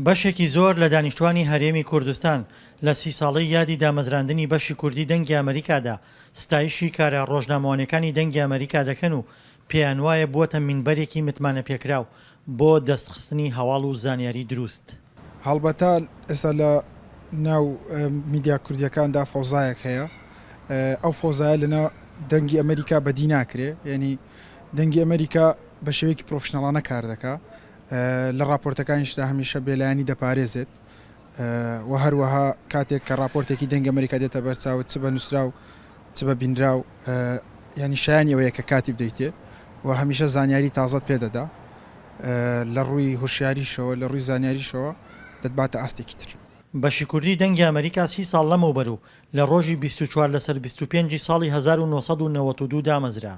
بەشێکی زۆر لە دانیشتوانی هەرێمی کوردستان لە سی ساڵەی یادی دامەزراندنی بەشی کوردی دەنگی ئەمەریکادا ستایشی کارە ڕۆژنامەوانیەکانی دەنگی ئەمەریکا دەکەن و پێیان وایە بووەتە مینبەرێکی متمانەپێکراو بۆ دەستخستنی هەواڵ و زانیاری دروست. هەڵبەتە ئێستا لە ناو میدیا کوردیەکاندا فەوزایەک هەیە ئەو فۆزایە لەنا دەنگی ئەمریکا بەدی ناکرێ یعنی دەنگی ئەمریکا بە شێوەیەکی پرۆفشنەڵانە کار دەکا لە راپۆرتەکانیشدا هەمیشە بێلایانی دەپارێزێت و هەروەها کاتێک کە راپۆرتێکی دەنگ ئەمریکا دێتە بەرچاوت چ بە نووسراو چ بە بینراو یانی شایانی ئەوەیە کە کاتی بدەیتێ و هەمیشە زانیاری تازەت پێدەدا لە ڕووی هوشیاریشەوە لە ڕووی زانیاریشەوە دەتباتە ئاستێکی تر. بەشی کوردی دەنگی ئەمەریکا سی ساڵ لەمەوبەر و لە ڕۆژی بیست و چوار لەسەر بیست و پێنج ی ساڵی هەزار و نۆ سەد و نەوەد و دوو دامەزرا.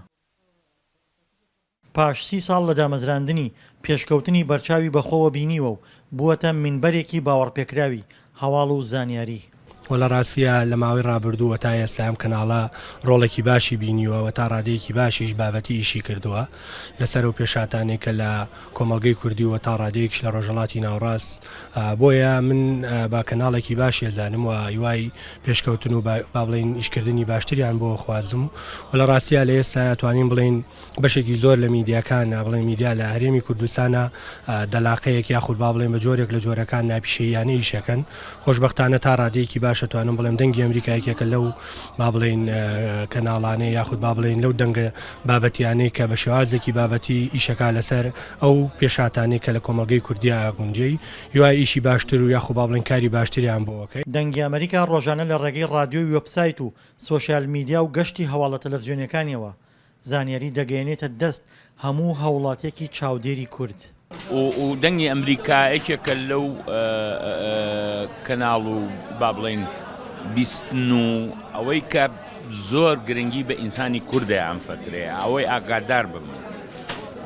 پاش سی ساڵ لە دامەزراندنی، پێشکەوتنی بەرچاوی بەخۆوە بینیوە و بووەتە مینبەرێکی باوەڕپێکراوی هەواڵ و زانیاری. وە لە ڕاستیدا لە ماوەی ڕابردوو و تا ئێستا ئەم کەناڵە ڕۆڵێکی باشی بینیوە و تا ڕادەیەکی باشیش بابەتی ئیشی کردووە لە سەر ئەو پێشهاتانەی کە لە کۆمەڵگەی کوردی و تا ڕادەیەکیش لە ڕۆژهەڵاتی ناوەڕاست بۆیە من بە کەناڵێکی باشی ئەزانم و هیوای پێشکەوتن و با بڵێین ئیشکردنی باشتریان بۆ خوازم و لە ڕاستیدا لە ئێستا توانین بڵێین بەشێکی زۆر لە میدیاکان نابڵێن میدیا لە هەرێمی کوردستانە دەلاقەیەک یاخود با بڵێن بە جۆرێک لە جۆرەکان ناپیشەیانە ئیشەکەن خۆشببختانە تا ڕادەیەکی باشە توانم بڵێم دەنگی ئەمریکایەکێکە لەو با بڵین کەناڵانەیە یاخود با بڵین لەو دەنگە بابەتیانەی کە بە شێوازێکی بابەتی ئیشەکە لەسەر ئەو پێشاتانی کە لە کۆمەلگەی کوردیا گونجەی یوا ئیشی باشتر و یاخو با بڵین کاری باشتریان بۆکەی دەنگی ئەمریکا ڕۆژانە لە ڕێگەی ڕادیۆی وێبسایت و سۆشیال میدیا و گەشتی هەواڵە تەلەفزیۆنیەکانیەوە زانیاری دەگەیەنێتە دەست هەموو هاوڵاتیەکی چاودێری کورد. و دەنگی ئەمریکا یەکێکە لەو کەناڵ و با بڵێین بیستن و ئەوەی کە زۆر گرنگی بە ئینسانی کوردە ئەم فترەیە ئەوەی ئاگادار بم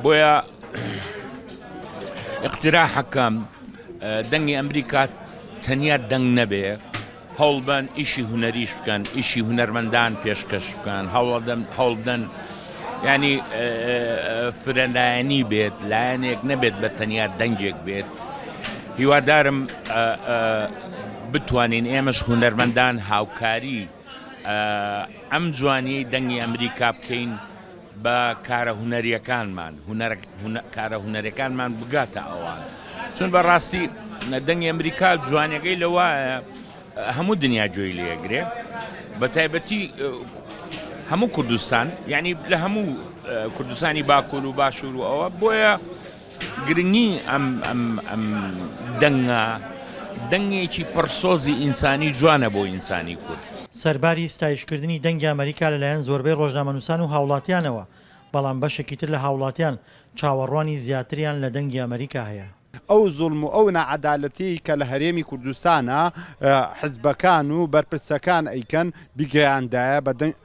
بۆیە اقتراحەکەم دەنگی ئەمریکا تەنیا دەنگ نەبێ هەوڵبدەن ئیشی هونەریش بکەن ئیشی هونەرمەندان پێشکەش بکەن هەوڵدەن هەوڵبدەن ینی فرەلایەنی بێت لایەنێک نەبێت بە تەنیا دەنگێک بێت هیوادارم بتوانین ئێمەش هونەرمەندان هاوکاری ئەم جوانی دەنگی ئەمریکا بکەین با کارە هونەریەکانمان هونەر کارە هونەریەکانمان بگاتە ئەوان چون بە ڕاستی دەنگی ئەمریکا جوانەکەی لە وایە هەموو دنیا جۆی لێگرێ بە تایبەتی هەموو کوردستان یعنی لە هەموو کوردستانی باکوور و باشوور و ئەوە بۆیە گرنگی ئەم ئەم ئەم دەنگە دەنگێکی پڕ سۆزی ئینسانی جوانە بۆ ئینسانی کورد. سەرباری ستایشکردنی دەنگی ئەمەریکا لەلایەن زۆربەی ڕۆژنامەنووسان و هاوڵاتیانەوە، بەڵام بەشێکی تر لە هاوڵاتیان چاوەڕوانی زیاتریان لە دەنگی ئەمەریکا هەیە. ئەو زوڵم و ئەو ناعەدالەتیەی کە لە هەرێمی کوردستانە حزبەکان و بەرپرسەکان ئەیکەن بیگەیاندایە بە دەنگ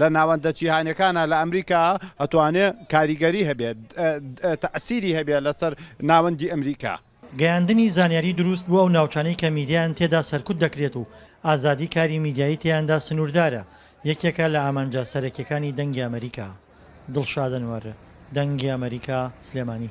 لە ناوەندە جیهانیەکانا لە ئەمریکا ئەتوانێ کاریگەری هەبێ تەئسیری هەبێ لەسەر ناوەندی ئەمریکا. گەیاندنی زانیاری دروست بۆ ئەو ناوچانەی کە میدیایان تێدا سەرکوت دەکرێت و ئازادی کاری میدیایی تێیاندا سنوردارە یەکێکە لە ئامانجە سەرەکیەکانی دەنگی ئەمەریکا. دڵشاد ئەنوەر، دەنگی ئەمەریکا، سلێمانی.